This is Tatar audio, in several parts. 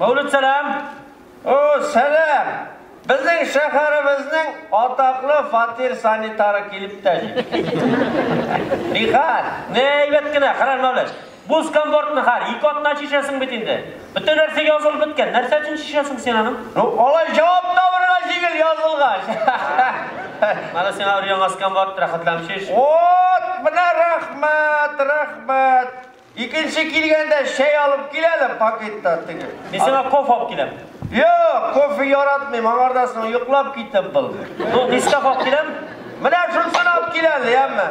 Мәүлүд сәлам! О, сәлам! Безнең шәһәребезнең атаклы фатир санитары килеп тә җитте. Нихәл? Нә әйбәт кенә, хәләл Мәүлүд. Буз комборт нихәл? Ике атна чишәсең бит инде. Бөтен нәрсә язылып беткән. Нәрсә өчен чишәсең син аны? Ну, алай җавап табырга җиңел язылгач. Менә сиңа өр-яңа скомборт, рәхәтләнеп чиш. Вот, менә рәхмәт, рәхмәт. Икенче килгәндә чәй алып кил әле пакетта теге. Мин сиңа кофе алып киләм. Юк, кофе яратмыйм, аңардан соң йоклап китеп булды. Ну, Нескафе алып киләм. Менә шунысын алып кил әле, яме.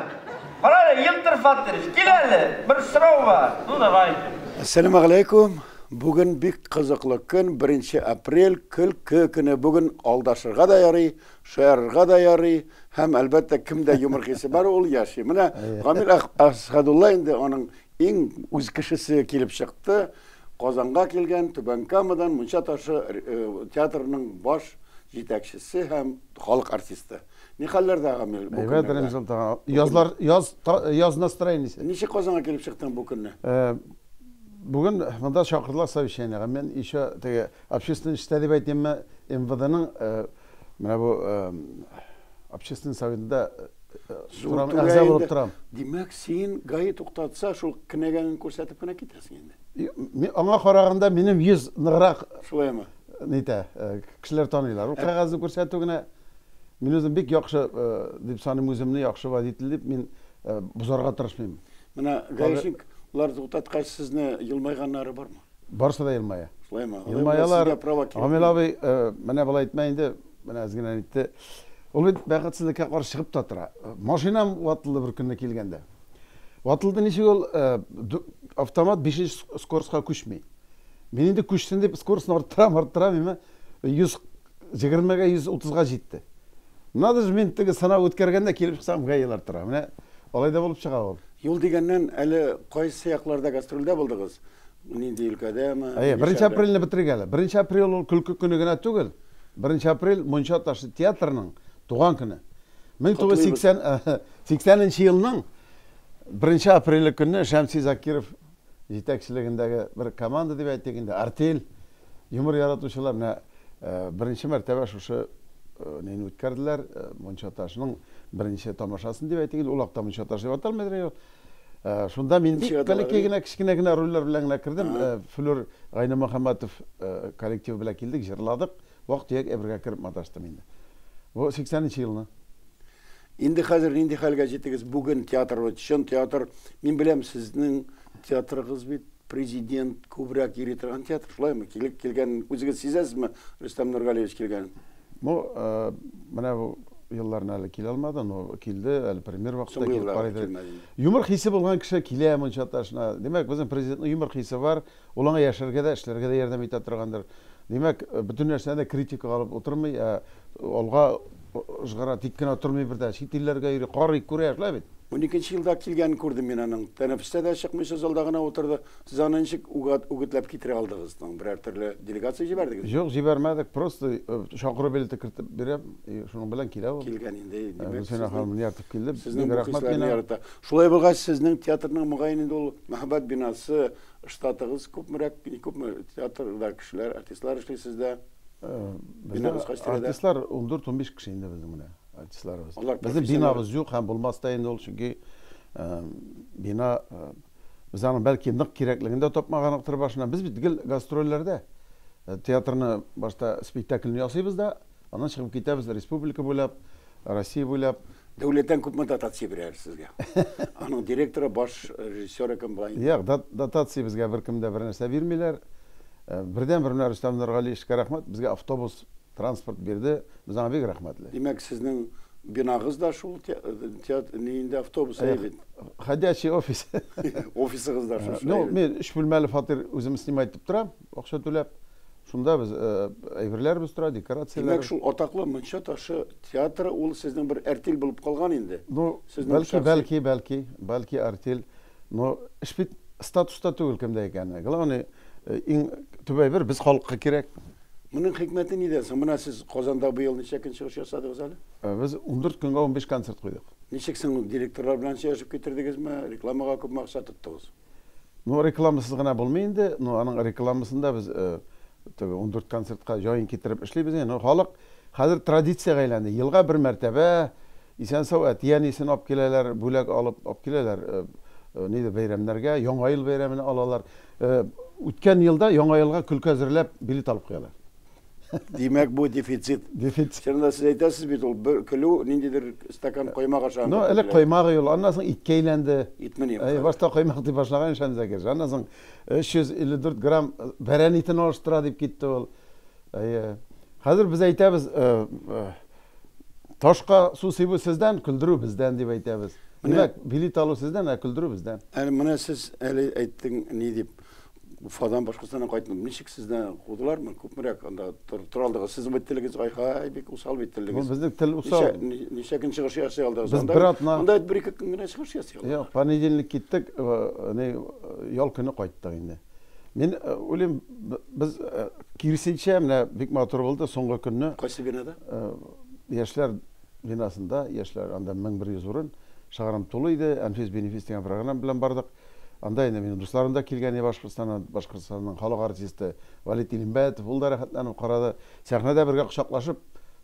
Кара әле, Елтыр Фатыйрович, кил әле, бер сорау бар. Ну, давай. Әссәламу галәйкүм. Бүген бик кызыклы көн, беренче апрель, көлке көне. Бүген алдашырга да ярый, Шаярырга да ярый, һәм, әлбәттә, кемдә юмор хисе бар, ул яши. Менә Гамил Әсхәдулла инде аның иң үз кешесе килеп чыкты. Казанга килгән, Түбән Камадан Мунча ташы э, театрының баш җитәкчесе һәм халык артисты. Ни хәлләрдә, Гамил, бу Әйбәт, көннәрдә? Рәмзан тага. Язлар, яз, та- яз настроениесе. Ничек Казанга килеп чыктың бу көнне? Э, Бүген монда чакырдылар совещаниега. Мин еще теге общественный эштә дип әйтимме, МВДның э, Менә бу общественный советында торам, әгъза булып торам. Димәк, син гаи туктатса, шул кенәгәңне күрсәтеп кенә китәсең инде. Мин аңа караганда минем йөз ныграк. Шулаймы? Нитә, кешеләр таныйлар. Ул кәгазьне күрсәтү генә мин үзем бик яхшы дип саныйм, үземне яхшы водитель дип мин бозарга тырышмыйм. Менә гаишник лар туктаткач сезне елмайганнары бармы? Барысы да елмая. Шулаймы? Елмаялар. Гамил абый, менә болай әйтмә инде, менә әз генә әйтте. Ул бит бәхетсезлеккә каршы чыгып та тора. Машинам ватылды бер көнне килгәндә. Ватылды ничек ул автомат бишенче скоростька күчми. Мин инде күчсен дип скоростьны арттырам, арттырам, әмма 100 Җегермегә 130 га җитте. Надо же, мин теге сынау үткәргәндә килеп чыксам га елар тора. Менә алай да булып чыга ул. Юл дигәннән, әле кайсы якларда гастрольдә булдыгыз? Нинди өлкәдәме? Әйе, беренче апрельне бетерик әле. Беренче апрель ул көлке көне генә түгел. Беренче апрель Мунча ташы театрының туган көне. 1980 нче елның беренче апреле көнне Шәмси Закиров җитәкчелегендәге бер команда дип әйтик инде, артель, юмор яратучылар менә беренче мәртәбә шушы нейне үткәрделәр, Мунча ташының беренче тамашасын дип әйтик инде, ул акта Мунча таш дип аталмыйдыр ул. Шунда мин бик бәләкәй генә, кечкенә генә рольләр белән генә кердем. Флүр Гайнемөхәммәтов коллективы белән килдек, җырладык. Вак-төяк әйбергә кереп маташтым инде. Бу сиксәненче елны. Инде хәзер нинди хәлгә җитегез? Бүген театр бит, чын театр. Мин беләм, сезнең театрыгыз бит президент күбрәк йөри торган театр, шулаймы? Килеп килгәнен үзегез сизәсезме, Рөстәм Нургалиевич килгәнен? Бу, менә бу елларны әле килә алмады, но килде, әле премьер вакытта килеп карый иде. Юмор хисе булган кеше килә монча ташына. Димәк, безнең президентның юмор хисе бар. Ул аңа яшәргә дә, эшләргә дә ярдәм итә торгандыр. Димәк, бөтен нәрсәне дә критикага алып утырмый, ә алга ышгыра, тик кенә тормый бер дә. Чит илләргә йөри, карый, күрә, шулай бит? Уникенче елда килгәнен күрдем мин аның. Тәнәфестә дә чыкмыйча залда гына утырды. Сез аны ничек үгетләп китерә алдыгыз соң? Берәр төрле делегация җибәрдегезме? Юк, җибәрмәдек. Просто чакыру билеты кертеп бирәм, и шуның белән килә ул. Килгән инде, димәк. Гөлсинә ханым ияртеп килде. Сезнең бу хисләрне ярата. Шулай булгач, сезнең театрның, мөгаен инде ул мәһабәт бинасы, Штатыгыз күпмерәк, бик күпме театрда кешеләр, артистлар эшли сездә? Бинабыз кайсы тирәдә? Артистлар 14-15 кеше инде безнең менә артистларыбыз. Безнең бинабыз юк һәм булмас та инде ул, чөнки бина без аны бәлки нык кирәклеген дә тапмаганлыктыр башына. Без бит гел гастрольләрдә. Театрны башта спектакльне ясыйбыз да, Аннан чыгып китәбез республика буйлап, Россия буйлап. Дәүләттән күпме дотация бирәләр сезгә? Аның директоры, баш режиссеры кем була? Юк, дотация безгә беркем дә бернәрсә бирмиләр. Э, бердән бер менә Рөстәм Нургалиевичка рәхмәт, безгә автобус, транспорт бирде. Без аңа бик рәхмәтле. Димәк, сезнең бинагыз да шул театр нинди автобус э, бит. Ходячий офис. Офисыгыз да шул. Ну, мин өч бүлмәле фатир үзем снимать итеп торам. Акча түләп, шунда без әйберләребез тора, декорацияләр. Димәк, шул атаклы Мунча ташы театры ул сезнең бер әртил булып калган инде? Ну, бәлки, бәлки, бәлки, бәлки әртил. Но эш бит статуста түгел кемдә икәне. Главный, иң төп әйбер без халыкка кирәк. Моның хикмәте нидә соң? Менә сез Казанда быел ничә көн чыгыш ясадыгыз әле? Без 14 көнгә 15 концерт куйдык. Ничек соң директорлар белән сөйләшеп китердегезме? Рекламага күпме акча тоттыгыз? Ну, рекламасыз гына булмый инде. Ну, аның рекламасын да без теге 14 концертка җаен китереп эшлибез инде. Ну, халык хәзер традициягә әйләнде. Елга бер мәртәбә исән сау әтиәнисен алып киләләр, бүләк алып алып киләләр. Нидә бәйрәмнәргә, Яңа ел бәйрәменә алалар. Үткән елда Яңа елга көлке әзерләп билет алып куялар. Димәк, бу дефицит. Дефицит. Чынында сез әйтәсез бит ул, бер көлү ниндидер стакан коймак ашаган. Ну, элек коймак ул, аннан соң иткә әйләнде. Итме ни? Әй, башта коймак дип башлаган ич анда кеше. Аннан соң 354 грамм бәрән итен алыштыра дип китте ул. Әйе. Хәзер без әйтәбез, ташка су сибү сездән, көлдерү бездән дип әйтәбез. Димәк, билет алу сездән, ә көлдерү бездән. Әле менә сез әле әйттең ни дип. Уфадан башкасына кайтмадым. Ничек сезне кудылармы? Күпмерәк анда тора алдыгыз? Сезнең бит телегез ай-хай, бик усал бит телегез. Безнең тел усал. Ничә көн чыгыш ясый алдыгыз? Без бер атна. Анда бер ике көн генә чыгыш ясый алдыгыз. Юк, понедельник киттек, әни ял көне кайттык инде. Мин уйлыйм, без киресенчә менә бик матур булды соңгы көнне. Кайсы бинада? Яшьләр бинасында, яшьләр анда 1100 урын. Шыгарым тулы иде. Әнфис-бенефис дигән программа белән бардык. Анда инде минем дусларым да килгән иде Башкортстаннан, Башкортстанның халык артисты Валит Илембәтов, ул да рәхәтләнеп карады. Сәхнәдә бергә кочаклашып,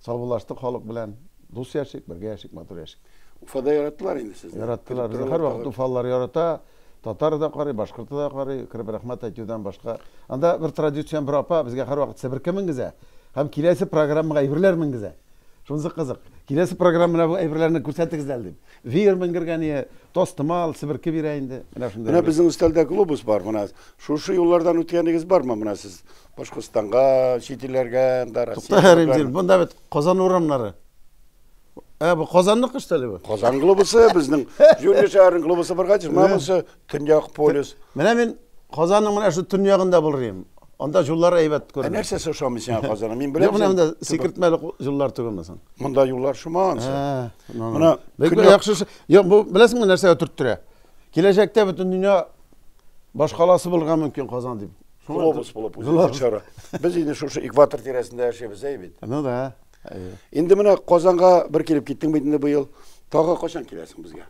саубуллаштык халык белән. Дус яшик, бергә яшик, матур яшик. Уфада яратылар инде сезне. Яраттылар. Безне һәрвакыт уфалылар ярата. Татары да карый, башкорты да карый. Кереп рәхмәт әйтүдән башка. Анда бер традицион бер апа безгә һәрвакыт себерке менгезә һәм киләсе программага әйберләр менгезә. Шунысы кызык. Киләсе программада бу әйберләрне күрсәтегез әле, дим. Веер менгергә не тастымал, себерке бирә инде. Менә шундый. Менә безнең өстәлдә глобус бар, менә шушы юллардан үткәнегез бармы менә сез? Башкортстанга, чит илләргә, анда Россия. Тукта һәр инде, монда бит Казан урамнары. Ә бу Казанныкы что ли бу? Казан глобусы безнең Җүнле шәһәрнең глобусы бар гади, менә монысы Төньяк полюс. Менә мин Казанның менә шу төньягында булыр идем. Анда юллар әйбәт күренә. Ә нәрсәсе ошамый сиңа Казанның? Мин беләм. Менә монда сикертмәле юллар түгелме соң? Монда юллар шоман. Менә бик яхшы. Юк, бу беләсеңме нәрсәгә төрттерә? Киләчәктә бөтен дөнья башкаласы булырга мөмкин Казан дип. Глобус булып үзгәрә. Без инде шушы экватор тирәсендә яшибез, әй бит. Ну да. Инде менә Казанга бер килеп киттең бит инде быел. Тагы качан киләсең безгә?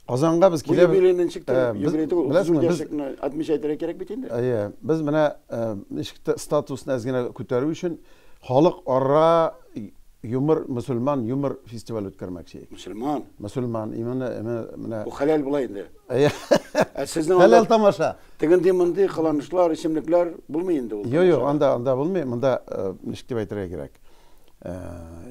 Казанга без киләбез. Бу юбилейны ничек тә юбилей түгел. Беләсеңме, без отмечать итәргә кирәк бит инде. Әйе, без менә ничек тә статусны әз генә күтәрү өчен халык ара юмор, мөселман юмор фестиваль үткәрмәкче. Мөселман. Мөселман, именно менә. Бу хәләл була инде. Ә сезнең анда Хәләл тамаша. Тегенди мондый кыланышлар, исемлекләр булмый инде ул. Йо, йо, анда анда булмый. Монда э, ничек дип әйтергә кирәк? Э,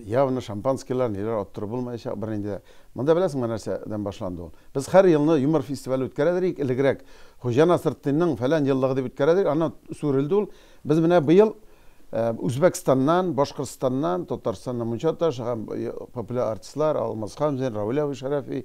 явно шампанскийлар, ниләр оттыру булмаячак бернинди. Монда беләсеңме нәрсәдән башланды ул? Без һәр елны юмор фестивале үткәрәдер идек, элегрәк. Хуҗа Насретдинның фәлән еллыгы дип үткәрәдер, аны сүрелде ул. Без менә быел э, Үзбәкстаннан, Башкортстаннан, Татарстаннан Мунча таш һәм э, популяр артистлар Алмаз Хамзин, Равил Шәрәфи,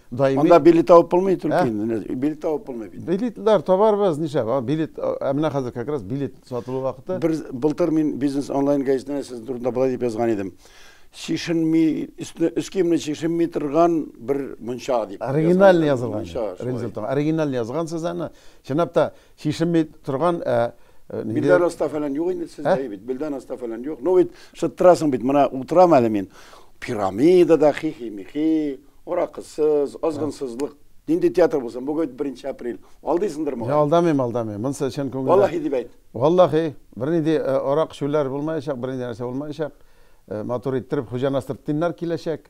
Даими. Анда билет табып булмый только инде. Билет табып булмый бит. Билетлар табарбыз, нишләп? Билет, ә менә хәзер как раз билет сатылу вакыты. Бер былтыр мин бизнес онлайн газетында сезнең турында болай дип язган идем. Чишенми, өстенә өс киемне чишенми торган бер мунча дип. Оригинальный язылган. Рензелтон. Оригинальный язгансыз аны. Чынлап та Чишенми торган ә, э, нинди- Билдән аста фәлән юк инде сездә Ә? бит. Билдән аста фәлән юк. Ну бит шыттырасың бит. Менә утырам әле мин. Пирамидада хихи-михи, аракысыз, азгынсызлык. Нинди театр булсын? Бүген беренче апрель. Алдыйсыңдыр Я моңа. алдамыйм, алдамыйм. Монысы чын күңелдән. Валлахи дип әйт. Валлахи, бернинди э, арак шүлләр булмаячак, бернинди нәрсә булмаячак. Э, Матур иттереп хуҗаны астыртыннар киләчәк.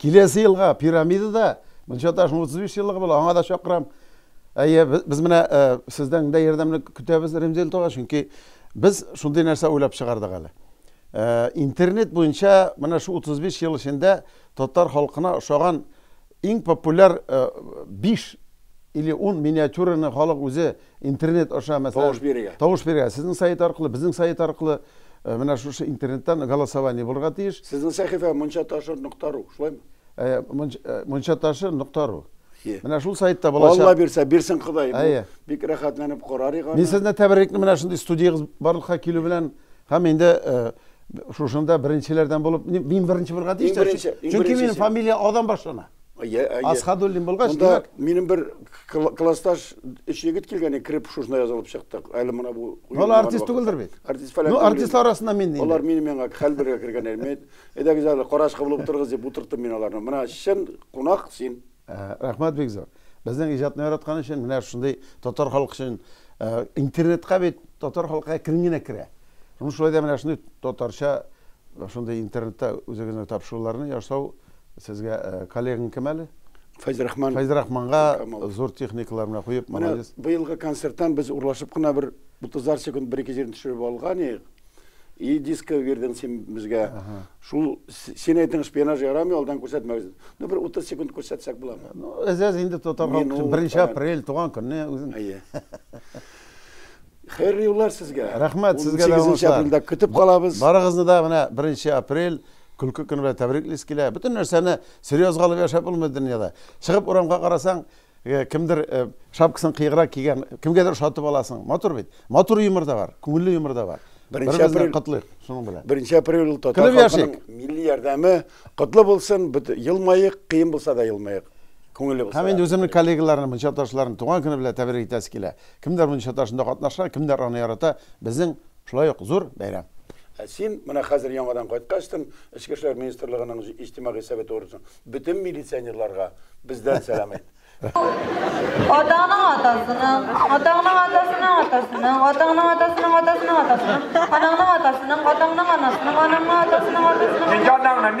Киләсе елга пирамида да мунча ташының 35 еллыгы була, аңа да чакырам. Әйе, без менә сездән дә ярдәмне көтәбез, Ремзил туга, чөнки без шундый нәрсә уйлап чыгардык әле. Интернет буенча менә шу 35 ел эчендә татар халкына ошаган иң популяр 5 или 10 миниатюраны халык үзе Интернет аша мәсәлән Тавыш бирергә. Тавыш бирергә. Сезнең сайт аркылы, безнең сайт аркылы э, менә шушы интернеттан голосование булырга тиеш. Сезнең сәхифә мончаташыр нокта ру, шулаймы? Э, э, мончаташыр нокта ру. Менә шул сайтта булачак. Алла бирсә, бирсен Ходай. Әйе. Бик рәхәтләнеп карарык аны. Мин сезне тәбәррекне менә шундый студиягез барлыкка килү белән һәм инде шушында беренчеләрдән булып мин беренче булырга тиеш. Чөнки минем фамилия Адан башлана. Асхадуллин булгач, димәк. Минем бер классташ өч егет килгәне кереп шушына язылып чыктык. Әле менә бу. Ул артист түгелдер бит. Артист фәлән. Ну артист арасында мин нинди. Алар минем янга хәл бергә кергәннәр. Мин әйдәгез әле карашка булып утырыгыз дип утырттым мин аларны. Менә чын кунак син. Рәхмәт бик зур. Безнең иҗатны яраткан өчен менә шундый татар халкы өчен интернетка бит татар халкы әкрен генә керә. Ну шулай да менә шундый татарча шундый интернетта үзегезнең тапшыруларны ясау Сезгә коллегаң кем әле? Фәйзрахман. Фәйзрахманга зур техникалар менә куеп, молодец. Менә быелгы концерттан без урлашып кына бер 30 секунд бер-ике җирне төшереп алган идек. И диско бирдең син безгә. Шул син әйтең шпионаж ярамый, алдан күрсәтмәгез. Ну бер 30 секунд күрсәтсәк буламы? Ну, әзәз инде тотарга. Беренче апрель туган көнне үзең. Әйе. Хәерле юллар сезгә. Рәхмәт, сезгә дә уңышлар. 18 апрельдә көтеп калабыз. Барыгызны да менә 1 апрель көлке көне белән тәбриклис килә. Бөтен нәрсәне серьезга алып яшәп булмый дөньяда. Чыгып урамга карасаң, э, кемдер э, шапкасын кыеграк кигән, кемгәдер ошатып аласың. Матур бит. Матур юмор да бар, күңелле юмор да бар. Беренче апрель котлыйк шуның белән. Беренче апрель ул татар халкының милли ярдәме котлы булсын, елмаек, кыен булса да елмаек. Күңелле булсын. Һәм инде үземнең коллегаларны, мунчаташларны туган көне белән тәбрик итәсе килә. Кемдер мондый саташында катнашкан, кемдер аны ярата, безнең шулай ук зур бәйрәм. Ә син менә хәзер яңадан кайткачтын, Эчке эшләр министрлыгының иҗтимагый советы утырышын, бөтен милиционерларга бездән сәлам әйт. Атаңның атасының, атаңның атасының атасының, атаңның атасының атасының атасының, анаңның атасының, атаңның анасының, анаңның атасының атасының атасының.